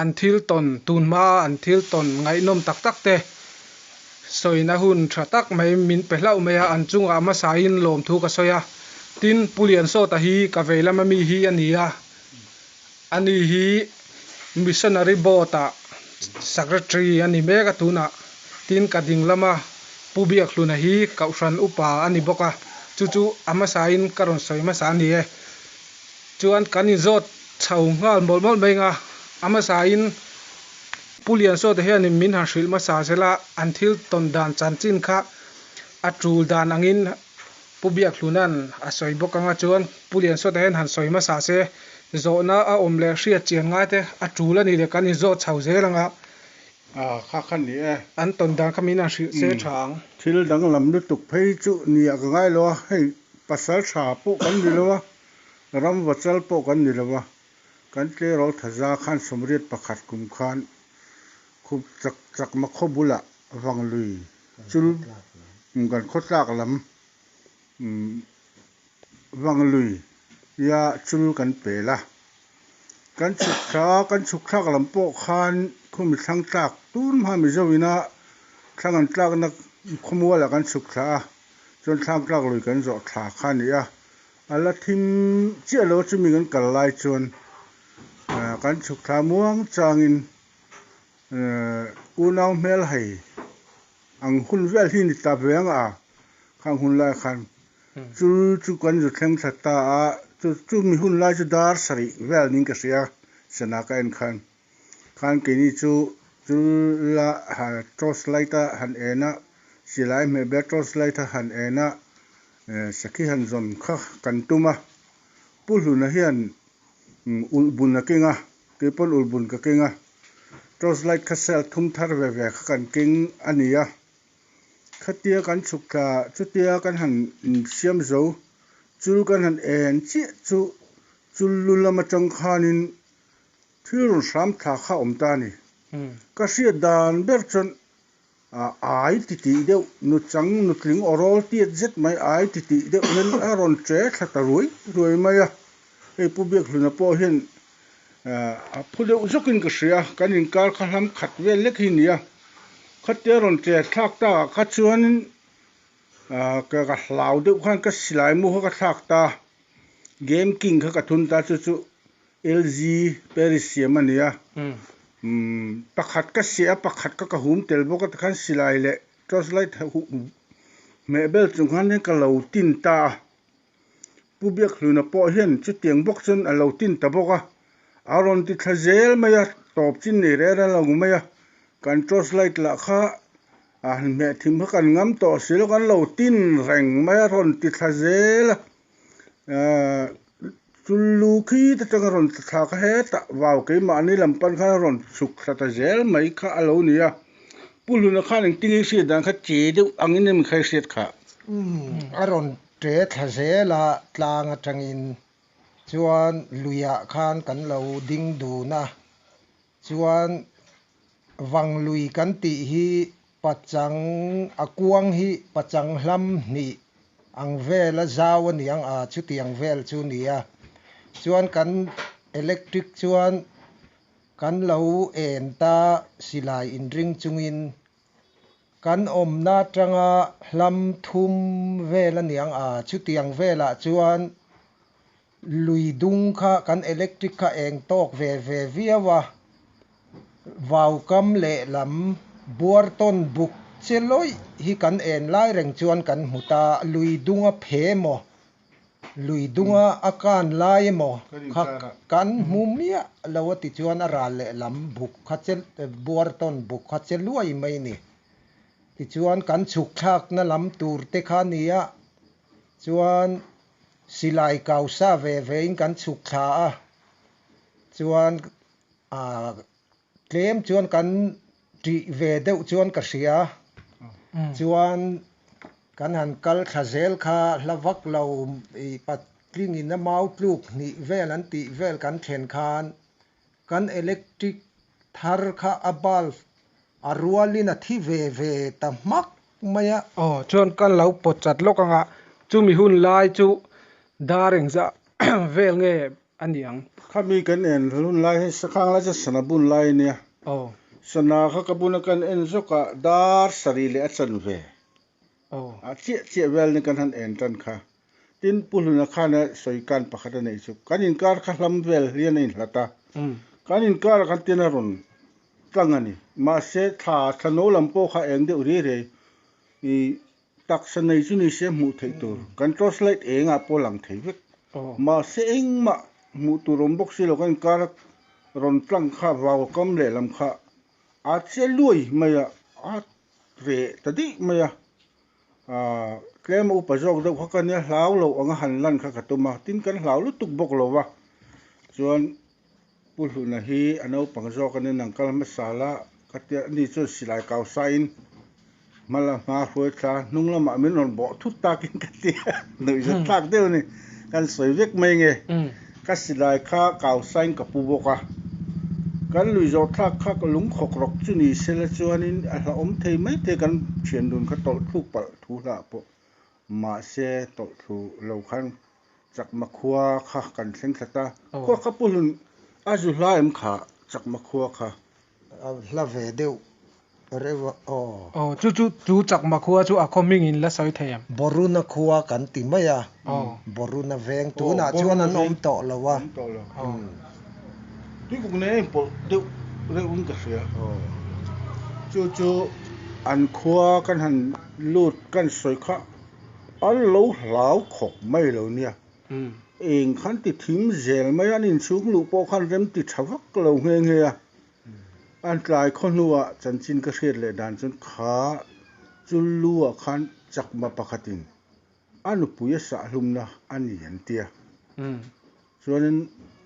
An thil tawn tun hmaa an thil tawn ngaihnawm tak tak te sawiin a hun tha tak mai, min pe hlauh mai a, an chungah hmasain lawmthu ka sawi a, tin Pu Liansawta hi ka vei lama mi hi a ni a, ani hi Missionary Board a Secretary a ni mek a tunah, tin ka ding lama Pu Biakhluna hi Kauhran upa a ni bawk a, chu chu a hmasain ka rawn sawi hmasa a ni e. Chuan kan inzawt chho nghal mawlh mawlh mai nga, a hmasain Pu Liansawta hianin min han hrilh hmasa zel a, an thil tawn dan chanchin kha a tul dan angin Pu Biakhluna'n a sawi bawk anga chuan Pu Liansawta hian han sawi hmasa se, zawhna a awm leh hriatchian ngaite a tul a ni le kan inzawt chho zel anga A kha kha ni e. An tawn dan kha min a hrilh se tha ang. Thil danglam lutuk phei chu ni ah ka ngai lo a, hei pasal tha pawh kan ni lo a, ram vachal pawh kan ni lo a, kan tleirawl tha za khan sawmriat pakhat kum khan khup chak chak makhaw bulah vang lui chul kan khawtlak lam Umm Vanglui ia chul kan pel a, kan chhukthla kan chhukthlak lam pawh khan khumi thlang tlak tun hma Mizo ina thlang an tlakna khawmual ah kan chhukthla a, chuan thlang tlak lui kan zawh thla kha ni a, a la thim chiah lo a chumi kan kal lai chuan aah kan chhukthla muang changin aah unau hmel hei Ang hun vial hi ni ta ve ang a, khang hun lai khan chu chu kan zu thleng tha ta a, chu chu mi hun lai chu dar sarih vial ning ka hria, sana ka en khan khan keini chu chu la torch light a han en a, silai hmeh ber torch light a han en a, sakhi han zawn kha kan tum a, Pu Hluna hian ulh bun a keng a, kei pawn ulh bun ka keng a, Torchlight kha sell thum thar ve ve kha kan keng a ni a, khatia kan chhuk thla chutia kan han insiam zo, chul kan han en chiah chu chul lu lam atang khanin thil rawn hram thla kha awm ta a ni. Ka hriat dan ber chuan A ai ti tih deuh nu chang nutling orawl tiat zet mai ai ti tih deuh hian a rawn che thla ta ruai ruai mai a, hei Pu Biakhluna pawh hian a phu deuh zawkin ka hria a, kan inkar kha hlam khat vel lek hi nia, khatia rawn che thlak takah kha chuanin ka ka hlau deuh khan ka silai mu kha ka thlak ta, Game King kha ka thun ta chu chu LG Paris siam a nia. Umm pakhat ka siah a pakhat ka ka hum tel bawk a tikhan silai leh torch light hmeh bel chung khan hian ka lo tin ta a. Pu Biakhluna pawh hian chutiang bawk chuan a lo tin ta bawk a, a rawn ti thla zel mai a, tawp chin nei rêr a lang mai a, kan torch light lah kha a hmeh thim kha kan ngam tawh si lo, kan lo tin reng mai a, a rawn ti thla zel a. chul lu khit atanga rawn tla thlak a hetah vau keimahni lam pan khan a rawn chhuk thla ta zel mai kha a lo ni a pu hluna khan eng tinge i hriat dan kha che deuh angin hemi kha i hriat kha a rawn che thla zel a tlang atangin chuan luiah khan kan lo ding dun a. Chuan vanglui kan tih hi pachang a kuang hi pachang hlam hnih ang vela zau a niang a, chutiang vel chu nia. Chuan kan electric chuan kan lo en ta silai inring chungin kan awmna atanga hlam thum vel a niang a, chutiang velah chuan, Lui dung kha kan electric kha eng tawk ve ve viau a, vau kam leh lam buar tawn buk che lawih hi kan en lai reng chuan kan hmu ta, lui dung a phe maw, lui dunga a kan lai emaw kha kan hmu miah lo a ti chuan a ral leh lam buk kha che buar tawn buk kha che luai mai ni. Tichuan kan chhuk thlakna lam tur te kha nia chuan. Silai kau sa ve ve in kan chhuk thla a, chuan a tlem chuan kan tih ve deuh chuan ka hria, chuan kan han kal thla zel kha hla vak lo i patling in a mau tluk hnih vel an tih vel kan thlen khan, Kan electric thar kha a bulb a rualin a thi ve ve ta hmak mai a. Aw, chuan kan lo pawt chat lawk anga chumi hun lai chu dar engzah vel nge a ni ang? Khami kan en hun lai hi Sakhang lai chu sana bun lai a nia. Aw. Sana kha ka bun a kan en zawkah dar sarih leh a chanve Aw. A chiah chiah vial nen kan han en tan kha. Tin, Pu Hluna khan a sawi kan pakhat a nei chu, Kan inkar kha hlam vial hian a inhlat a. Kan inkar a kan tiin a rawn tlang a ni. Mahse, thla, thla no lam pawh kha eng deuh rei rei i taksa nei chu ni se hmuh theih tur kan torchlight engah pawh a lang thei vek. Mahse, engmah hmuh tur awm bawk si lo, kan inkar a rawn tlang kha vaukam lehlam kha a chiah luai mai a. A ve ta dih mai a, aah tlem a upa zawk deuh kha ka nia hlau lo anga han lan kha ka tum a, tin kan hlau lutuk bawk lo va, chuan Pu Hluna hi a naupang zawk anin an kal hmasa la, ka tia ani chuan silai kau sain hma la hma hruai thla hnung lamah min rawn bawh thut takin ka tia nuih zet thlak deuh a ni, kan sawi vek mai nge. Ka silai kha kau sain ka pu bawk a, kan lui zawh thlak kha ka lung khawk rawk chu ni se la chuanin a hlauhawm thei mai te kan thian dun kha tawlh thluk palh thu hlah pawh mahse tawlh thlu lo khan chakma khua kha kan thleng thlat a, khua kha pu hlun a zu hlaim kha chakma khua kha. A hla ve deuh reuh aw. Aw, chu chu chu chakma khua chu a khawming in la sawi thei em? Boruna khua kan ti mai a, Boruna veng tunah chuan an awm tawh lo a. Bikuk nen a inpawlh deuh reuh in ka hria. Chu chu an khua kan han lut kan sawi kha an lo hlau khawp mai lo nia. Eng khan ti thim zel mai an inchhung luh pawh khan remti tha vak lo nghe nghe a, an tlai khaw hnuah chanchin ka hriat leh dan chuan kha chul luah khan chakma pakhatin a nupuia sahlumna a ni an ti a, chuanin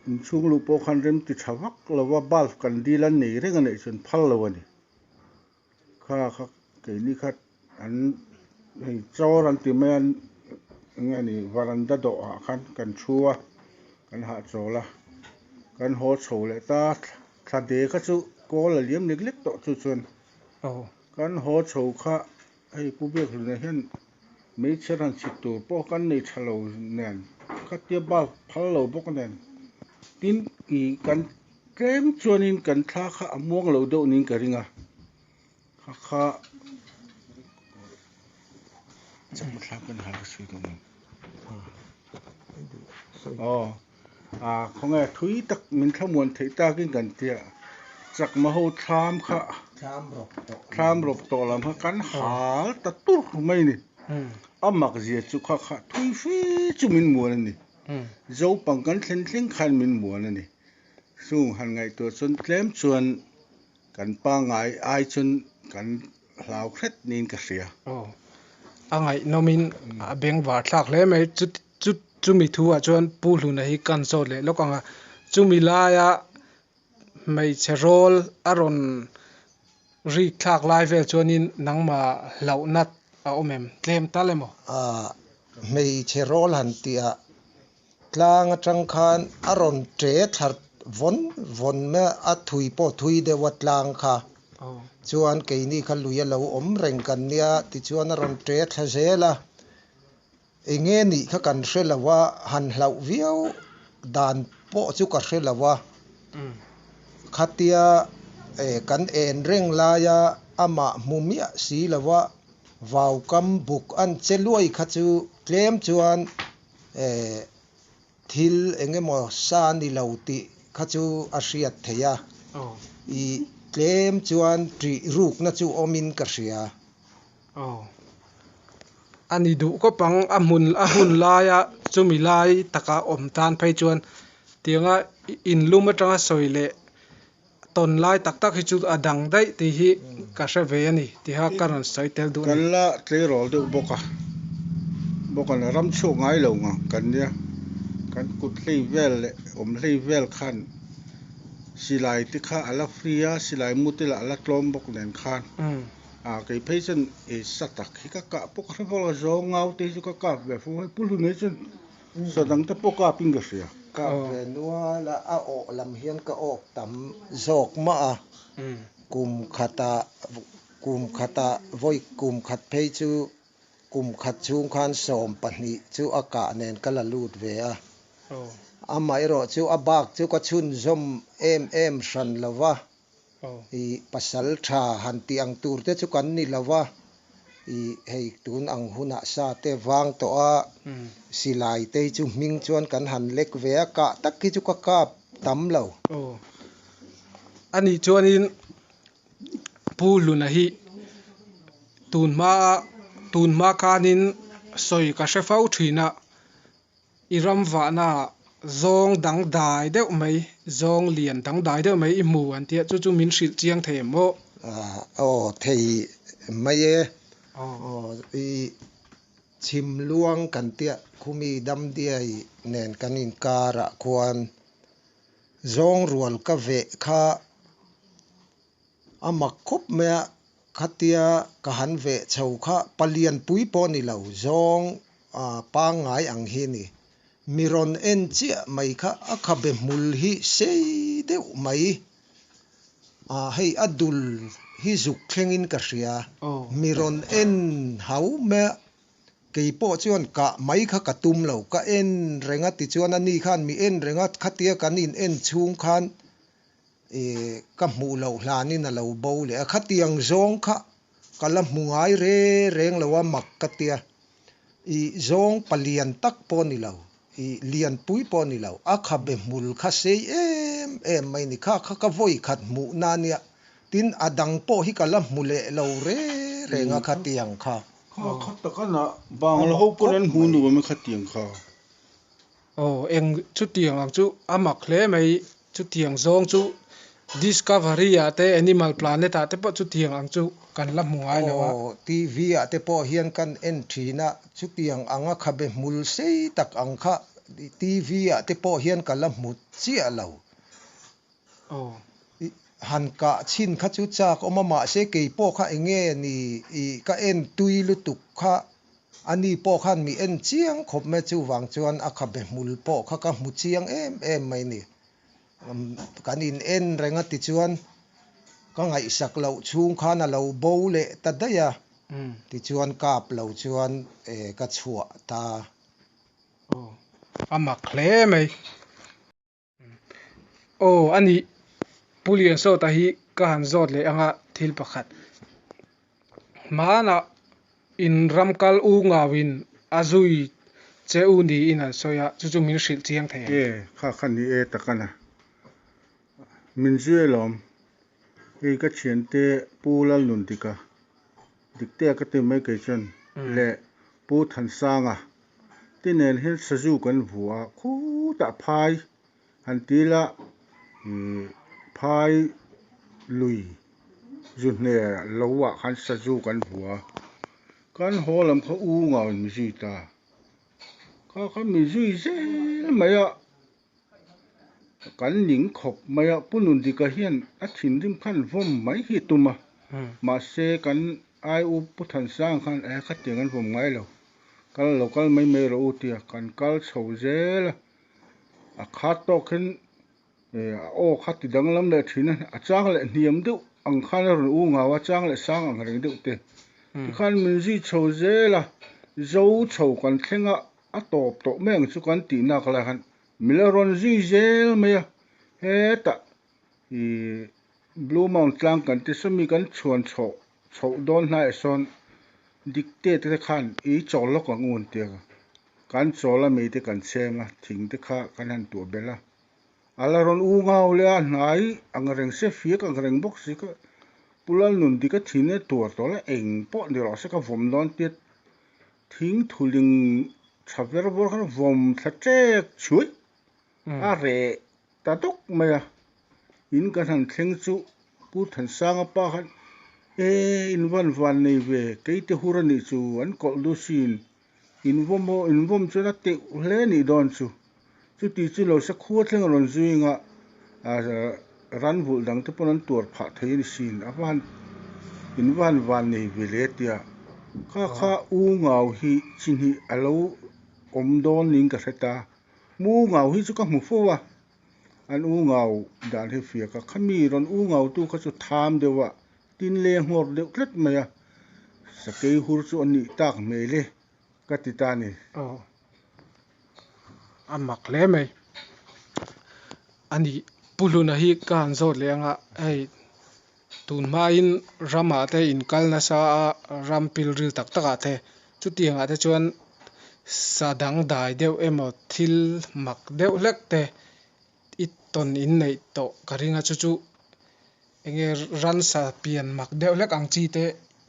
inchhung luh pawh khan remti tha vak lova bulb kan dil an nei reng a neih chuan phal lo a ni. Kha kha keini kha an hei chawr an ti mai a enge a nih varanda dawh ah khan kan thu a kan hah chawl a kan haw chho leh ta thla de kha chu kawl a liam lek lek tawh chu chuan kan haw chho kha hei pu Biaklun ah hian-- Hmeichhe rawn chhit tur pawh kan nei tha lo nen, khatia bulb phal lo bawk nen, tin i kan tlem chuanin kan thla kha a muang lo deuh niin ka ring a. Hakha chakna thla kan hal ka sawi deuh nen. Aw. A, khawnge thui tak min thlamuan theih takin kan ti a, chakma ho thlam kha thlam rawp tawh lam kha kan hal ta tur mai ni. A mak zia chu kha kha thui fe chu min muan a ni. Zo pang kan thlen thleng khan min muan a ni. Chung han ngaihtuah chuan tlem chuan kan pa ngai ai chuan kan hlau hret niin ka hria. Aw, a ngaihnawmin a beng var thlak hle mai chu ti. Chu chumi thu ah chuan Pu Hluna hi kan sawt leh lawk ang a, chumi lai a hmeichhe rawl a rawn rik thlak lai vel chuanin nangma hlauh nat a awm em? Tlem tal emaw? A hmeichhe rawl han tih a tlang atang khan a rawn che thlar vawn vawn a, a thui pawh thui deuh a tlang kha chuan keini kha lui a lo awm reng kan nia tichuan a rawn che thla zel a Enge nih kha kan hre lo a, han hlauh viau dan pawh chu ka hre lo a, khatia kan en reng laia amah hmu miah si lo a, vau kam buk an che luai kha chu tlem chuan thil eng emaw sa ni lo tih kha chu a hriat theih a, i tlem chuan ṭih rukna chu awmin ka hria. A ni duh kawp ang a hmun a hun laia chumi lai taka awm tan phei chuan tianga in lum atanga sawi leh tawn lai tak tak hi chu a dang daih tih hi ka hre ve a ni tih a ka rawn sawi tel duh a ni. Kan la tleirawl deuh bawk a, bawkan a ram chhuak ngai lo ngang kan nia, kan kut hleih vel leh awm hleih vel khan silai te kha a la free a, silai mute lah a la tlawm bawk nen khan. Aaa kei phei chuan ei sa tak hi ka kah pawk a hre fo a, zawng ngau te hi chu ka kap ve fo a, hei pu hlun hi chuan sa dang te pawh kapin ka hria. Kap ve nual a, a awh lam hian ka awk tam zawk mah a, kum khat ah kum khat ah vawi kum khat phei chu kum khat chhung khan sawm pahnih chu a kah nen ka la lut ve a, amaherawhchu a bak chu ka chhunzawm em em hran lo va, I pasal tha han tih ang tur te chu kan ni lo va, i hei tun ang hunah sa te vang tawh a, silai te hi chu hming chuan kan han lek ve a, kah tak hi chu ka kap tam lo. Aw. Ani chuanin Pu Hluna hi tun hma a, tun hma khanin sawi ka hre fo thin a. I ram vahna ah zawng dangdai deuh mai, zawng lian dangdai deuh mai i hmu an ti a, chu chu min hrilh chiang thei em aw? Aw, thei mai e. Aw, i chhim luang kan tiah khumi damdiai nen kan inkar ah khuan zawng rual ka veh kha A mak khawp mai a, khatia ka han ve chho kha pa Lianpui pawh ni lo, zawng a pangngai ang hi ni. Mi rawn en chiah mai kha a khabe hmul hi sei deuh mai. A, hei a dul hi zuk thlengin ka hria, mi rawn en hau mai a, kei pawh chuan kah mai kha ka tum lo, ka en reng a tichuan ani khan mi en reng a, khatia kan in en chhung khan I ka hmuh loh hlanin a lo bo leh a, khatiang zawng kha ka la hmu ngai re reng lo a mak ka tia, i zawng pa lian tak pawh ni lo, i lianpui pawh ni lo, a kha be hmul kha sei em em mai ni kha kha ka vawi khat hmuh na nia, tin a dang pawh hi ka la hmu leh lo re reng a khatiang kha. Kha khat tak a na bang lo ho pawh an hmu nuam e khatiang kha. Aw eng chutiang ang chu a mak hle mai, chutiang zawng chu Discovery ah te Animal Planet ah te pawh chutiang ang chu kan la hmu ngai lo a. Aw TV ah te pawh hian kan en thin a, chutiang anga kha be hmul sei tak ang kha TV ah te pawh hian ka la hmu chiah lo. Aw han kah chhin kha chu chak awm a mahse kei pawh kha enge ni ih ka en tui lutuk kha Ani pawh khan mi en chiang khawp mai chuvang chuan a khabe hmul pawh kha ka hmu chiang em em mai ni. Kan in en reng a tichuan ka ngaihsak loh chhung khan a lo bo leh ta daih a, tichuan kap lo chuan ka chhuah ta. Aw, a mak hle mai. Aw a nih, Pu Liansawta hi ka han zawt leh anga thil pakhat. Hmanah in ram kal u ngauin a zui che u niin an sawi a, chu chu min hrilh chiang thei ang. Ee, kha kha ni e tak a na. Min zui e lawm. Hei ka thiante Pu Lalnuntika, dikte a ka ti mai kei chuan, le Pu Thansanga. Ti nen hian sazu kan hmu a, khutah phai han ti ila ihh phai lui zu hne lo ah khan sazu kan hmu a, kan haw lam kha u ngau in mi zui ta, kha khan mi zui zel mai a. Kan ning khawp mai a, Punundika hian a thinrim khan vawm mai hi tum a, mahse kan aiu Pu Thansanga khan eh khatiang an vawm ngai lo, kal lo kal mai mai rawh u tia kan kal chho zel a, a khat tawk khin eh a aw kha ti danglam leh thin a, a chang leh hniam deuh ang khan a rawn u ngau a, chang leh sang ang reng deuh te hi khan min zui chho zel a, zo chho kan thleng a, A tawp tawh meng chu kan tih nak lai han mi la rawn zui zel mai a hetah ih blue mount tlang kan ti sawmi kan chhuan chhoh chhoh dawn hnaiah sawn dictate te khan ih chawl lawk ang un ti ang a kan chawl a mi te kan cheng a thing te kha kan han tuah belh a a la rawn u ngau leh a hnai ang reng se fiak ang reng bawk si kha pu lalnun dika thin e tuar tawh la eng pawh ni rawh se ka vawm dawn tiat Thing thuling tha ver bawr khan vawm thla ṭek chhuih a reh ta dawk mai a. In kan han thleng chu Pu Thansanga pa khan, E, in van van nei ve, kei te hur a nih chu, an kawlh duh si in, in vawm aw, in vawm chuan a teuh hle a nih dawn chu. Chuti chu lo sakhua thleng rawn zuinga ran vulh dang te pawn an tuar phah thei a ni sin, a van in van van nei ve le tia kha kha U Ngau hi chihnih a lo awm dawn niin ka hre ta, mu U Ngau hi chu ka hmu fo a, an U Ngau dan hi fiak a, khami rawn U Ngau tu kha chu tham deuh a, tin le nghawr deuh tlat mai a, sakei hur chu a nih tak hmel e. ka ti ta ni. Aw, a mak hle mai a ni. Pu Hluna hi ka han zawt leh ang a, hei tun hmain ramah te inkal nasa a, ram pilril tak takah te, chutiangah te chuan sa dangdai deuh emaw thil mak deuh hlek te I tawn in neih tawh ka ring a chu chu enge ransa pian mak deuh hlek ang chi te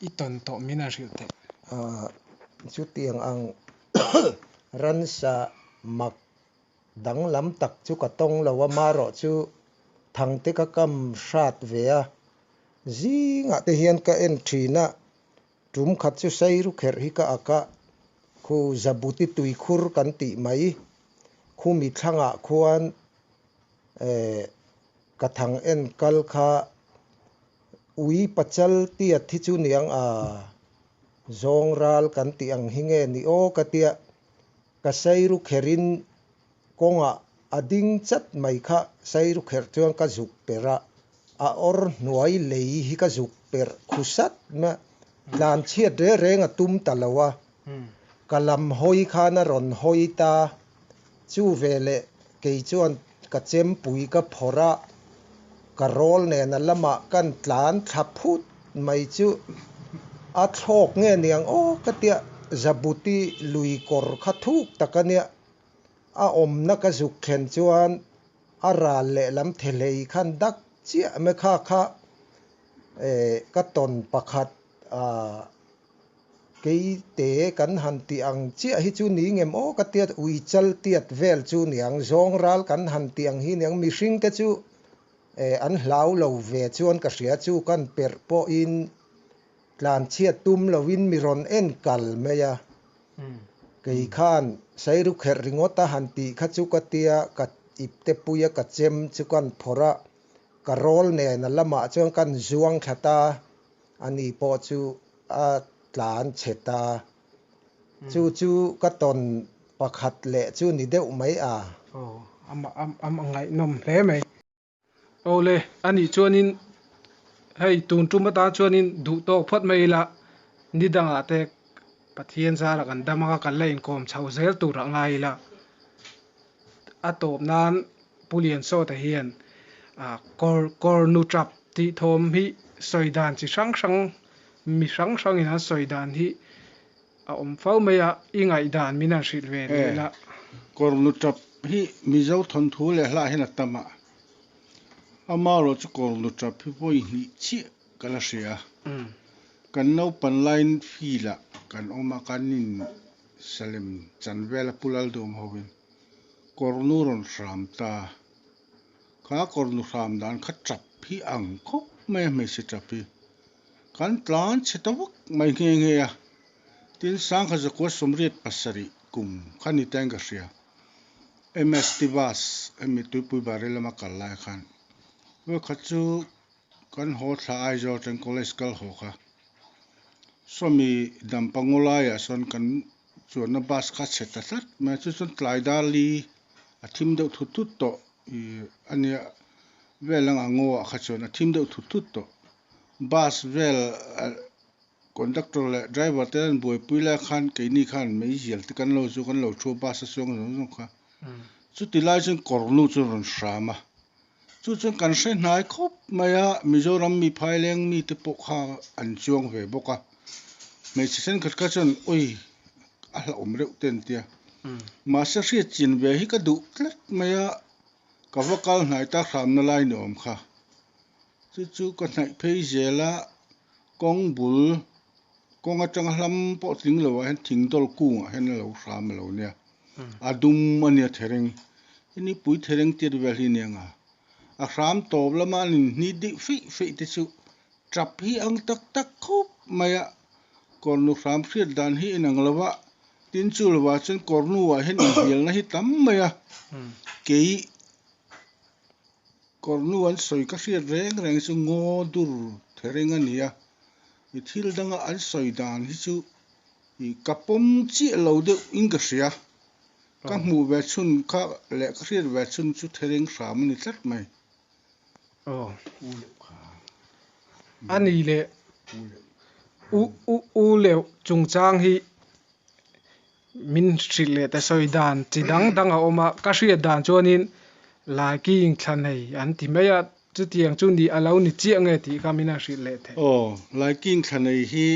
i tawn tawh min a hrilh theih. Aaa chutiang ang ransa mak danglam tak chu ka tawng lo a marawh chu thang te ka kam hrat ve a zingah te hian ka en thin a Tum khat chu Seiru kherh hi ka ak a, khu Jabuti tui khur kan tih mai. Khu mitthlangah khuan ka thang en kal kha Ui Pachal Tiat hi chu niang a, zawng ral kan tih ang hi nge ni aw ka tia. Ka sairukherin kawngah a ding chat mai kha sairukher chuan ka zuk per a, a awr hnuai lei hi ka zuk per khusat mah. Tlan chhiat reng reng a tum ta lo a, ka lam hawi khan a rawn hawi ta, chu veleh Kei chuan ka chempui ka phawrh a, ka rawl nena lamah kan tlan thla phut mai chu. A thlawk nge niang aw ka tia Zabuti lui kawr kha thuk tak a nia. A awmna ka zuk thlen chuan a ral lehlam the hlei khan dak chiah mekha kha ka tawn pakhat a. Kei te kan han tih ang chiah hi chu ni ngem aw ka tiat ui chal tiat vel chu niang zawng ral kan han tih ang hi niang mihring te chu eh an hlau lo ve chuan ka hria chu kan perh pawh in tlan chhiat tum lo in mi rawn en kal mai a kei khan Sairu kherh ringawt a han tih kha chu ka tia ka ip te pui a ka chem chu kan phawrh a ka rawl nen a lamah chuan kan zuang thlat a. Ani pawh chu a tlan chhet a, chu chu ka tawn pakhat leh chu ni deuh mai a. Aw, a ngaihnawm hle mai. Aw le, ani chuanin hei tun tum atan chuanin duh tawk phawt mai ila, ni dangah te Pathian zara kan dam a, kan la inkawm chho zel turah ngai ila. a tawp nan Pu Liansawta hian kawr kawr nu tap tih thawm hi sawi dan chi hrang hrang mi hrang hrang in an sawi dan hi a awm fo mai a, i ngaih dan min han hrilh ve leh la. Kawr nu tap hi Mizo thawnthu leh hlah hian a tam a, amarawh chu kawr nu tap hi vawi hnih chiah ka la hria, kan naupan line field ah kan awm a kan in, Salem chanvela pu lal dum ho in kawr nu rawn hram ta, kha kawr nu hram dan kha ṭap hi ang khawp mai a hmeichhe ṭap hi, kan tlan chhe ta vak mai nghe nghe a, tin sangkha zakua sawmriat pasarih kum kha ni ta in ka hria, MS Tivas, hemi tuipui Bahrei lama kal lai khan, vawikhat chu Kan haw thla Aizawl teng college kal haw kha Sawmi dam pangaw laiah sawn kan chuanna bus kha chhe ta tlat mai a, chu chuan tlai dar li a thim deuh thut thut tawh ih a nia vel ang a ngawah kha chuan a thim deuh thut thut tawh. Bus vel ah conductor leh driver te an buaipui lai khan keini khan mei zial te kan lo chu kan lo thu a bus a chuang zawng zawng kha. Chuti lai chuan kawr nu chu rawn hram a. Chu chuan kan hre hnai khawp mai a, Mizoram mi phai leng mi te pawh kha an chuang ve bawk a, hmeichhe thenkhat kha chuan awi a hlauhawm reuh te an ti a, mahse hriat chin ve hi ka duh tlat mai a, ka va kal hnai ta hramna lai ni awm kha, chu chu ka hnaih phei zel a. Kawng bul, kawng atanga hlam pawh tling lo ah hian thing dawr kungah hian a lo hram a lo nia. A dum a nia thereng. I nipui thereng tir vel hi nia nga. A hram tawp lama an inhni dih feih feih te chu tap hi ang tak tak khawp mai a. Kawrnu hram hriat dan hi in ang lo a, tin chu lo ah chuan kawrnu ah hian inbialna hi tam mai a. Kei. Kawr nu an sawi ka hriat reng reng chu ngaw dur thereng a ni a, i thil danga an sawi dan hi chu i ka pawm chiah lo deuh in ka hria, ka hmuh ve chhun kha leh ka hriat ve chhun chu thereng hram a ni tlat mai. U Leuh kha a ni le, U Leuh chungchang hi Min hrilh leh ta sawi dan chi dang dang a awm a, ka hriat dan chuanin Lai King thla nei an ti mai a, chutiang chu nih a lo ni chiah nge tih kha min a hrilh leh thei. Aw, Lai King thla nei hi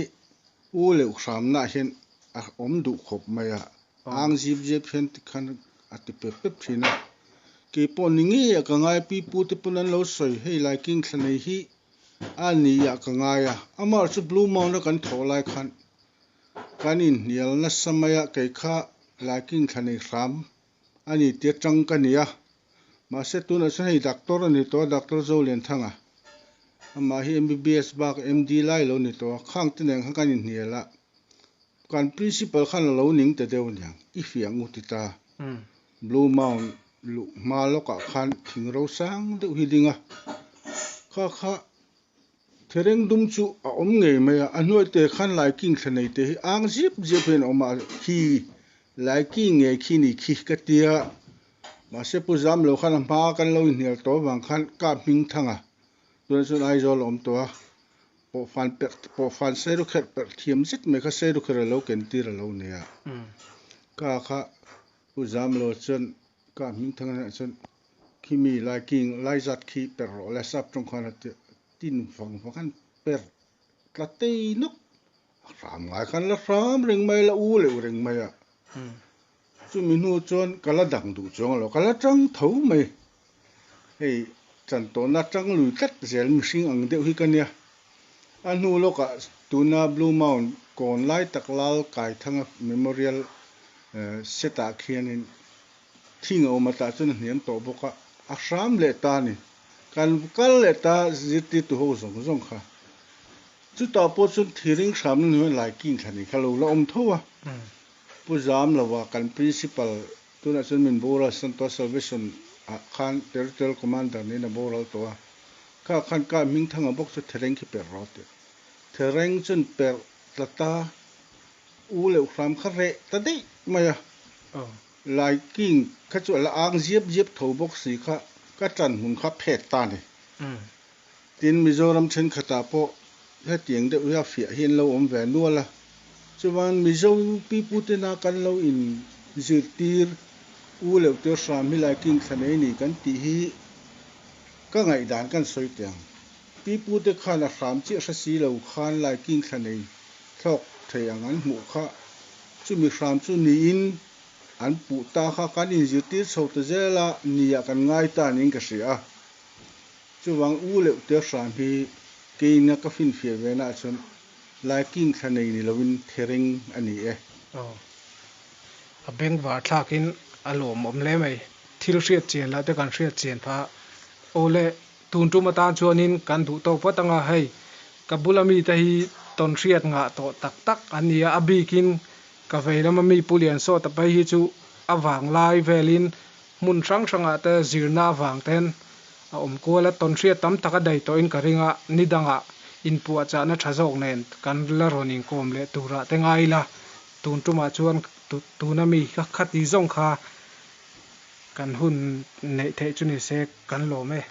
U Leuh hramnah hian a awm duh khawp mai a, ang zip zep hian ti khan a ti pep pep thin a, keipawh ni ngei ah ka ngai, Pi Pu te pawh an lo sawi, hei Lai King thla nei hi a ni ah ka ngai a, amah chu Blue Mound a kan thawh lai khan Kan inhnial nasa maia kei kha Laikin thla nei hram a ni tia chang ka nia. Mahse tunah chuan hei Doctor a ni tawh a, Doctor Zolianthang a. Amah hi MBBS bak MD lai lo ni tawh a. Khang te nen kha kan inhnial a, kan Principal khan a lo ning ta deuh aniang, i fiang u ti ta. Blue Mound luh hma lawkah khan thing ro sang deuh hi ding a, kha kha. Thereng dum chu a awm ngei mai a, a hnuai te khan Laiking thla nei te hi ang zip zia pawhin a awm a, khi Laiking nge khi ni khi ka ti a, mahse Pu Zamlo khan a hma kan lo inhnial tawh avang khan ka hming thang a, tunah chuan Aizawl a awm tawh a, pawhfan perh pawhfan seiru kherh perh thiam zet mai kha seiru kher a lo ken tir a lo nei a, ka kha Pu Zamlo chuan Ka hming thang ania chuan khi mi lai king lai zat khi per rawh le sap tawng khan a tirh tin vang vang an per tlatei nawk a hram ngai khan la hram reng mai la u leh reng mai a chumi hnu chuan ka la dang duh chuang lo ka la tang tho mai hei chantawna tang lui tlat zel mihring ang deuh hi ka nia. A hnu lawkah tuna Blue Mound kawn lai tak Lal Kaithanga Memorial setah khianin thing a awm a, tah chuan a hniam tawh bawk a, a hram leh ta a ni. Kan kal leh ta zirtirtu ho zawng zawng kha. Chutah pawh chuan thir ring hramna hnuaiah Laikin thla nih kha lo la awm tho a, Pu Zamloa kan Principal Tunah chuan min bur a, Santoa Salvacion a khan Territorial Commander niin a boral tawh a, ka khan ka hming thanga bawk chu Thereng khi per rawh a ti. Thereng chuan per tla ta, u leh u hram kha reh ta daih mai a, Lai King kha chu a la ang ziap ziap tho bawk si kha ka tlan hun kha phet ta a ni. Tin, Mizoram thenkhatah pawh hetiang deuh hi a fiah hi an lo awm ve nual a, chuan Mizo UP putena kan lo in zirtir u leh tir hram hi lai king thla nei ni kan tih hi ka ngaihdan kan sawi teh ang. Pi pute khan a hram chiah hre si lo khan lai king thla nei thlawk thei ang an hmuh kha chumi hram chu niin an puh ta kha kan in zirtir chho ta zel a, ni ah kan ngai ta niin ka hria. Chuvang u leuh te hram hi keina ka finfiah ve naah chuan Lai King thla nei ni loin thereng a ni e. Aw. A beng var thlakin a lawm awm hle mai. Thil hriat chian lah te kan hriat chian pha. Awle, tun tum atan chuanin kan duh tawk vat anga hei ka bula mite hi tawn hriat ngah tawh tak tak an ni a. A bikin ka vei lama mi Pu Lian Sawta pai hi chu a vang lai velin Hmun hrang hrangah te zirna avang ten a awm kual a, tawn hriat tam taka dai tawh in ka ring a, ni dangah in puah chahna tha zawk nen kan la rawn in kawm leh turah te ngai ila, tun tumah chuan tuna mi ka khati zawng kha kan hun neih theih chu ni se kan lawm e.